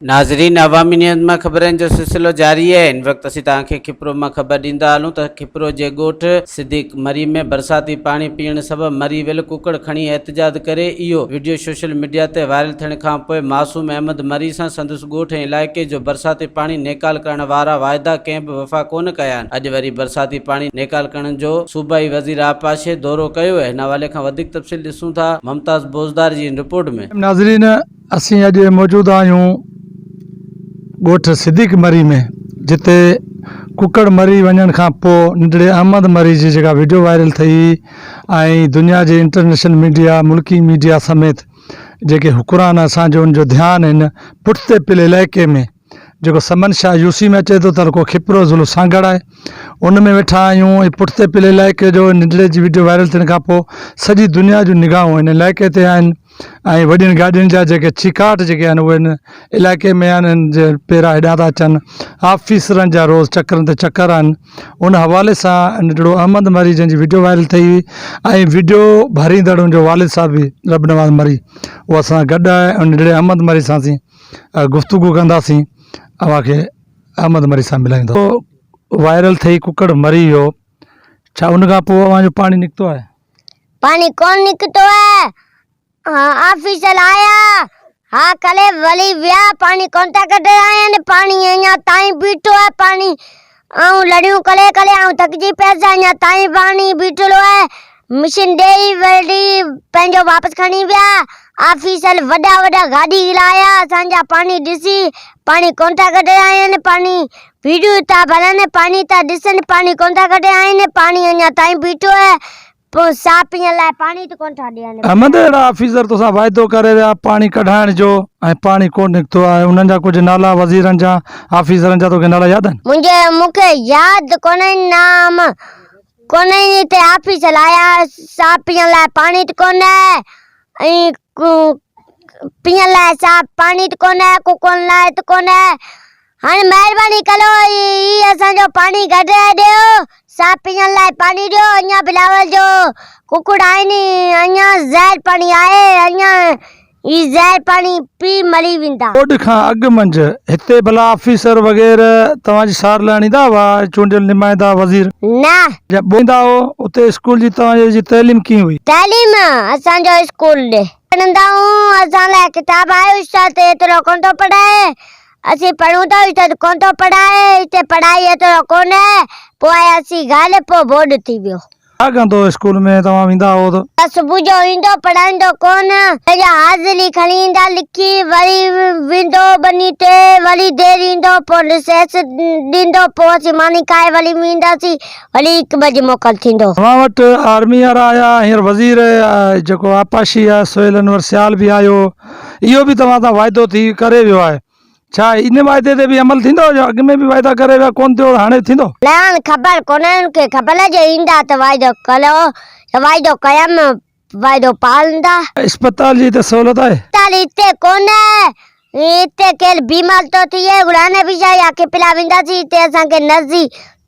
ناظرين عوامي نيوز مان خبرن جو سلسلو جاري آهي ان وقت اسين توهان کي کپرو مان خبر ڏيندا هلون ته کپرو جي ڳوٺ صديق مري ۾ برساتي پاڻي پيئڻ سبب مري ويل ڪڪڙ کڻي احتجاج ڪري اهو وڊيو سوشل ميڊيا تي وائرل ٿيڻ کانپوء معصوم احمد مري سان سندس ڳوٺ ۽ علائقي جو برساتي پاڻي نيڪال ڪرڻ وارا واعدا ڪنهن به وفا ڪونه ڪيا آهن اڄ وري برساتي پاڻي نيڪال ڪرڻ جو صوبائي وزير آبپاشي دورو ڪيو هن حوالي کان وڌيڪ تفصيل ڏسون ٿا ممتاز بوزدار جي هن رپورٽ ۾ ناظرين اسين اڄ موجود آهيون ڳوٺ صديق مري ۾ جتي ڪڪڙ مري وڃڻ کان پوء ننڍڙي احمد مري جي جيڪا وڊيو وائرل ٿئي ۽ دنيا جي انٽرنيشنل ميڊيا ملڪي ميڊيا سميت جيڪي حڪران اسان جو ان جو ڌيان هن پٺتي پيل علائقي ۾ جيڪو سمن شاهه يوسي ۾ اچي ٿو تعلقو کپرو ضلعو سانگهڙ آهي ان ۾ ويٺا آهيون ۽ پٺتي پلي علائقي جو ننڍڙي جي وڊيو وائرل ٿيڻ کان پوء سڄي دنيا جون نگاهون ان علائقي تي آهن ۽ وڏين گاڏين جا جيڪي چيڪاٽ جيڪي آهن اهي ان علائقي ۾ آهن ان جي پيرا هيڏانهن ٿا اچن آفيسرن جا روز چڪرن تي چڪر آهن ان حوالي سان ننڍڙو احمد مري جنهن جي وڊيو وائرل ٿئي هئي ۽ وڊيو ڀريندڙ ان جو والد صاحب به رب نواز مري اهو اسان سان گڏ آهي ۽ ننڍڙي احمد مري سان سين گفتگو ڪنداسين اوهان کي احمد مري سان ملائين ٿو وائرل ٿئي ڪڪڙ مري ويو ڇا ان کان پوء اوهان جو پاڻي نڪتو آهي پاڻي ڪون نڪتو آهي آفيسر آيا ها ڪلي ولي ويا پاڻي ڪون ٿا ڪڍي آيا پاڻي اڃا تائين بيٺو آهي پاڻي آئون لڙيون ڪري ڪري آئون ٿڪجي پيس اڃا تائين پاڻي بيٺلو آهي مشين ڏيئي ورلي پنهنجو واپس کڻي ويا آفيسر وڏا وڏا گاڏي گهرا آيا اسان جا پاڻي ڏسي پاڻي ڪونه ٿا ڪڍي آهن پاڻي ويڙهيون ٿا ڀرن پاڻي ٿا ڏسن پاڻي ڪونه ٿا ڪڍي آهن پاڻي اڃا تائين بيٺو آهي پوء ساهه پيئڻ لاء پاڻي ته ڪونه ٿا ڏين. احمد، اهڙا آفيسر توسان واعدو ڪري ويا پاڻي ڪڍائڻ جو ۽ پاڻي ڪونه نڪتو آهي. انهن جا ڪجهه نالا وزيرن جا، آفيسرن جا توکي نالا ياد آهن؟ منهنجي، مون کي ياد ڪونهن نام. ڪونهين هتي آفيسر آيا، ساهه پيئڻ لاء پاڻي ته ڪونه آهي ۽ پيئڻ لاء ساهه پاڻي ته ڪونه آهي، ڪوڪون لاء ته ڪونه آهي. هاڻي مهرباني ڪريو هي اسان جو پاڻي ڪڍرائي ڏيو صاف پيئڻ لاء پاڻي ڏيو اڃان بلاول جو ڪڪڙ آهن اڃان زهر پاڻي آهي اڃان هي زهر پاڻي پي مري ويندا. ٻوڏ کان اڳ منجھ هتي ڀلا آفيسر وغيره توهان جي سار لهڻ ايندا هئا چونڊيل نمائندا وزير. نه. جا ٻوڏ ايندا هئو اتي اسڪول جي توهان جي تعليم ڪيئن هئي. تعليم اسان جو اسڪول ڏي. پڙهندا هئون اسان لاء ڪتاب آهي استاد ايترو ڪونه ٿو پڙهائي اسين پڙهون ٿا هي ته ڪونه ٿو پڙهائي، هتي پڙهائي ايترو ڪونه آهي. پوء اسين غالب پوء بورڊ ٿي ويو. اڳ تو اسڪول ۾ توهان ويندا هئو ته. ته صبح جو ايندو پڙهائيندو ڪونه. پنهنجا حاضري کڻي ايندا لکي وري ويندو ٻني تي وري دير ايندو پوء رسيس ڏيندو پوء اسين ماني کائي وري وينداسين وري هڪ بجي موڪل ٿيندو. اوهان وٽ آرمي وارا آيا هينئر وزير جيڪو آبپاشي آهي سهيل انور سيال به آيو هو. اهو به توهان سان واعدو ٿي ڪري ويو آهي. ڇا ان واعدي تي به عمل ٿيندو جو اڳ ۾ به واعدا ڪري ويا ڪونه ٿيو هاڻي ٿيندو؟ لعان خبر ڪونه ان کي خبر جو ايندا ته واعدو ڪيو يا واعدو ڪيم واعدو پالندا. اسپتال جي هتي سهولت آهي؟ اسپتال هتي ڪونه هتي ڪير بيمار ٿو ٿئي گڙاني بيجا يا کپلا وينداسين هتي اسان کي نرسي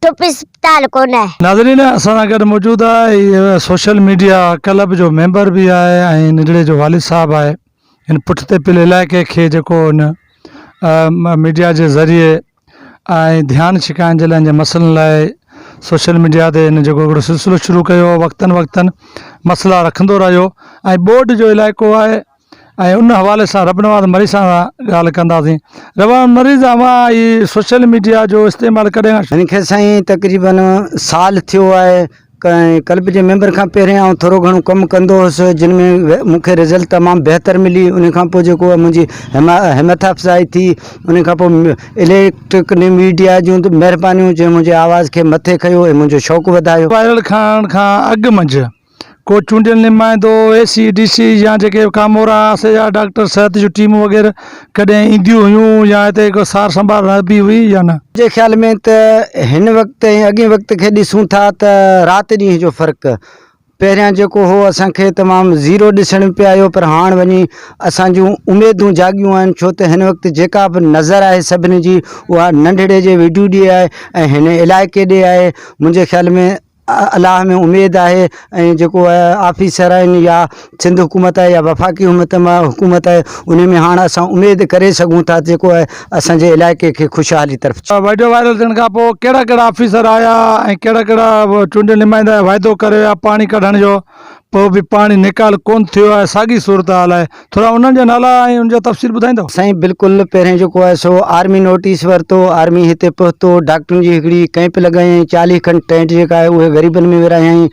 چپ اسپتال ڪونه. ناظرين اسان سان گڏ موجود آهي سوشل ميڊيا ڪلب جو ميمبر به آهي ۽ نجڙي جو والد صاحب آهي ان پٺتي پل علائقي کي جيڪو ان ميڊيا جي ذريعي ۽ ڌيان ڇڪائن جي لاء جي مسئلن لاء سوشل ميڊيا تي ان جيڪو هڪڙو سلسلو شروع ڪيو وقتن وقتن مسئلا رکندو رهيو ۽ ٻوڏ جو علائقو آهي ۽ ان حوالي سان رب نواز مري سان ڳالهه ڪنداسين ربان مريض اوهان هي سوشل ميڊيا جو استعمال ڪڏهن کان شروع هن کي سائين تقريباً سال ٿيو آهي ۽ ڪلب جي ميمبر کان پهرين آئون ٿورو گهڻو ڪم ڪندو هوس جن ۾ مون کي رزلٽ تمام بهتر ملي ان کان پوء جيڪو منهنجي همٿ افزائي ٿي ان کان پوء اليڪٽرڪ نيو ميڊيا جون مهربانيون جنهن منهنجي آواز کي مٿي کنيو ۽ منهنجو شوق وڌايو وائرل کان کان اڳ منجهه ڪو چونڊيل نمائندو، اي سي، ڊي سي يا جيڪي ڪامورا آسي يا ڊاڪٽر صحت جون ٽيمون وغيره ڪڏهن اينديون هيون يا هتي ڪو سار سنڀال رهبي هئي يا نه؟ منهنجي خيال ۾ ته هن وقت ۽ اڳئين وقت کي ڏسون ٿا ته رات ڏينهن جو فرق پهريان جيڪو هو اسان کي تمام زيرو ڏسڻ ۾ پئي آيو پر هاڻ وڃي اسان جون اميدون جاڳيون آهن ڇو ته هن وقت جيڪا به نظر آهي سڀني جي اها ننڍڙي جي ويڍوڙي آهي ۽ هن علائقي ڏي آهي منهنجي خيال ۾ الله ۾ اميد آهي ۽ جيڪو آفيسر آهن يا سنڌ حڪومت آهي يا وفاقي حڪومت مان حڪومت آهي ان ۾ هاڻ اسان اميد ڪري سگهون ٿا جيڪو آهي اسانجي علائقي کي خوشحالي طرف ويڊيو وائرل ٿيڻ کان پوء ڪهڙا ڪهڙا آفيسر آيا ۽ ڪهڙا ڪهڙا چونڊيل نمائندا وعدو ڪري ويا پاڻي ڪڍڻ جو پوء به پاڻي نيڪال ڪونه ٿيو آهي ساڳي صورتحال آهي ٿورا انهن جا نالا ۽ ان جا تفصيل ٻڌائيندؤ. سائين بلڪل پهرين جيڪو آهي سو آرمي نوٽيس ورتو آرمي هتي پهتو ڊاڪٽرن جي هڪڙي ڪئمپ لڳايائين چاليهه کن ٽينٽ جيڪا آهي اهي غريبن ۾ ورهايائين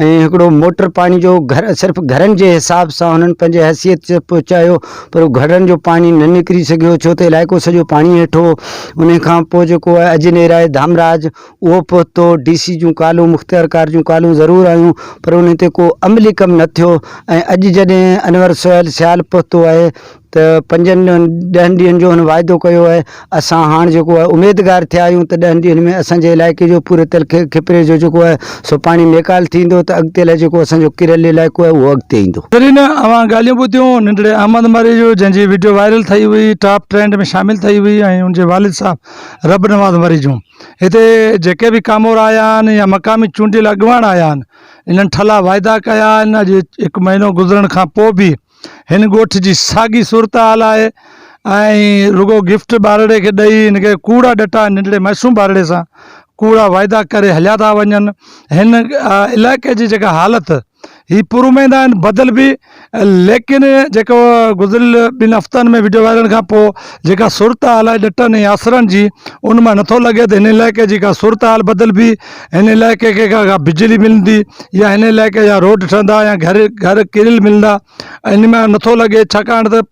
۽ هڪڙو موٽر پاڻي جو گهر صرف گهرن جي حساب سان هنن پنهنجي حيثيت سان پهچايو پر گهڙن جو پاڻي نه نڪري سگهيو ڇو ته علائقو سڄو پاڻي هيٺ هو انهي کان پوء جيڪو آهي اجنيرائي ڌامراج اهو پهتو، ڊي سي جون ڪالون، مختيارڪار جون ڪالون ضرور آيون پر انهن تي ڪو عملي ڪم نه ٿيو ۽ اڄ جڏهن انور سهيل سيال پهتو آهي ته پنجن ڏهن ڏينهن جو هن واعدو ڪيو آهي، اسان هاڻ جيڪو آهي اميدگار ٿيا آهيون ته ڏهن ڏينهن ۾ اسان جي علائقي جو پوري تلخي کپري جو جيڪو آهي سو پاڻي نيڪال ٿيندو ته اڳتي لاء جيڪو اسان جو ڪيريل علائقو آهي اهو اڳتي ايندو. ناظرين اوهان ڳالهيون ٻڌيون ننڍڙي احمد مري جون جنهن جي وڊيو وائرل ٿئي هئي ٽاپ ٽرينڊ ۾ شامل ٿئي هئي ۽ ان جي والد صاحب رب نواز مري جون. هتي جيڪي به ڪامورا آيا آهن يا مقامي چونڊيل اڳواڻ آيا آهن انهن ٺلا وعدا ڪيا آهن اڄ هڪ مهينو گذرڻ کان پوء به هن ڳوٺ جي ساڳي صورتحال آهي ۽ رڳو گفٽ ٻارڙي کي ڏئي هن کي ڪوڙا ڏٽا ننڍڙي معصوم ٻارڙي سان ڪوڙا وعدا ڪري هليا ٿا وڃن هن علائقي جي جيڪا حالت هي پر اميد آهن بدل به ليڪن جيڪو گذريل ٻن هفتن ۾ وڊيو وائرل کان پوء جيڪا صورت حال آهي ڏٽن ۽ آسرن جي ان مان نٿو لڳي ته هن علائقي جي ڪا صورت حال بدلبي هن علائقي کي ڪا بجلي ملندي يا هن علائقي جا روڊ ٺهندا يا گهر گهر ڪريل ملندا ان مان نٿو لڳي ڇاڪاڻ ته